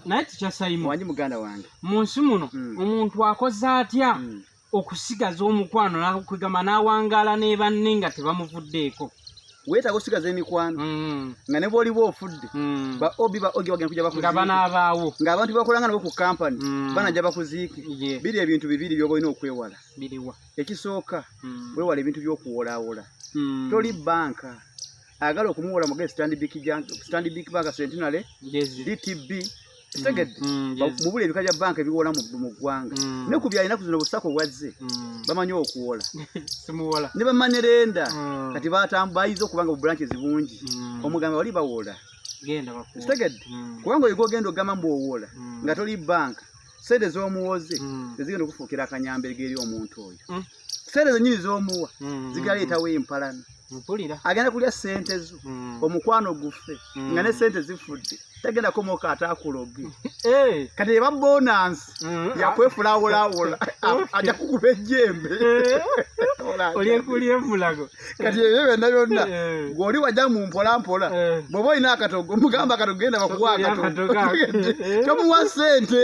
naye tikyasayimuwanyi muganda wange mu nsi muno hmm. omuntu akoze atya hmm. okusigaza omukwano nakwegamba n'awangaala ne banne nga tebamuvuddeeko weetaaga osigaza emikwano hmm. nga ne bwoliba ofudde ba obi ba ogi bagenda kuja bakuziike nga banaabaawo nga abantu bakolanga nabo ku kampani banaja bakuziike biri ebintu bibiri byoba olina okwewala biriwa ekisooka wewala ebintu by'okuwolawola toli banka agala okumuwola muge standbik standbik bank centenary dtb kitegedde mm, mm, mubula ebika bya banka ebiwola mu ggwanga mm. ne ku byalinaku zino busako bwazze bamanyi okuwola ne bamanerenda kati bayiza okuba nga bubulanki zibungi omugamba wali bawola kitegedde kubanga oyiga ogenda ogamba mbu owola nga toli banka sente z'omuwoze mm. tezigenda okufuukira akanyambega eri omuntu oyo mm. sente zenyini z'omuwa mm. zigaleetawo empalana mpulira agenda kulya sente zo mm. omukwano gufe mm. nga ne sente zifudde tagenda komoka atakuloge hey. Eh. kati eba bonansi mm. yakwefulawolawola aja kukuba ejjembe eh. olyekulye mulago kati ebyo byonna byonna eh. ng'oli wajja mu mpola mpola eh. bw'oba olina akatogo mugamba akatogo genda bakuwa akatogo eh. tomuwa sente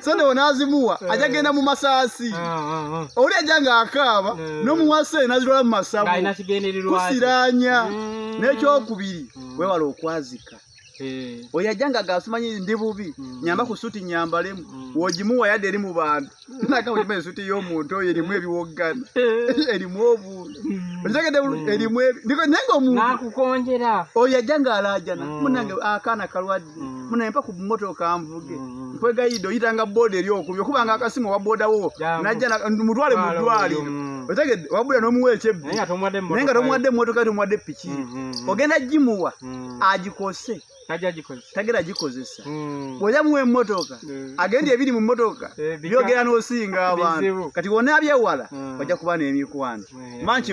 sente onaazimuwa ajja genda mu masaasi ah, ah, ah. oli ajja ng'akaaba n'omuwa sente nazitwala mu masabu kusiranya mm. n'ekyokubiri mm. wewala okwazika Eh. oyo ajja nga gasimanyi ndi bubi mm. nyamba ku suti nyambalemu mm. wogimuwa yadde eri mu bantu naga wogima ensuti y'omuntu oyo erimu ebiwoggana eh. erimu obuntu mm. okitegede mm. erimu ndiko naye nga omuntu nakukonjera oyo ajja nga alaajana mm. munange akaana kalwadde mm. munange mpa ku mmotoka nvuge mm. mm. nkwegayidde oyitanga booda eri okubi okuba nga akasimu owa booda wo najja mutwale mu ddwaliro mm. otegedde wabula n'omuwa ekyebbi naye nga tomuwadde mmotoka tomuwadde piki mm, ogenda gimuwa agikose tagera agikozesa hmm. bwoja muwa emotoka hmm. agenda ebiri mu motoka eh, byogera nosinga abantu kati wona abyewala hmm. oja kuba nemikwano manki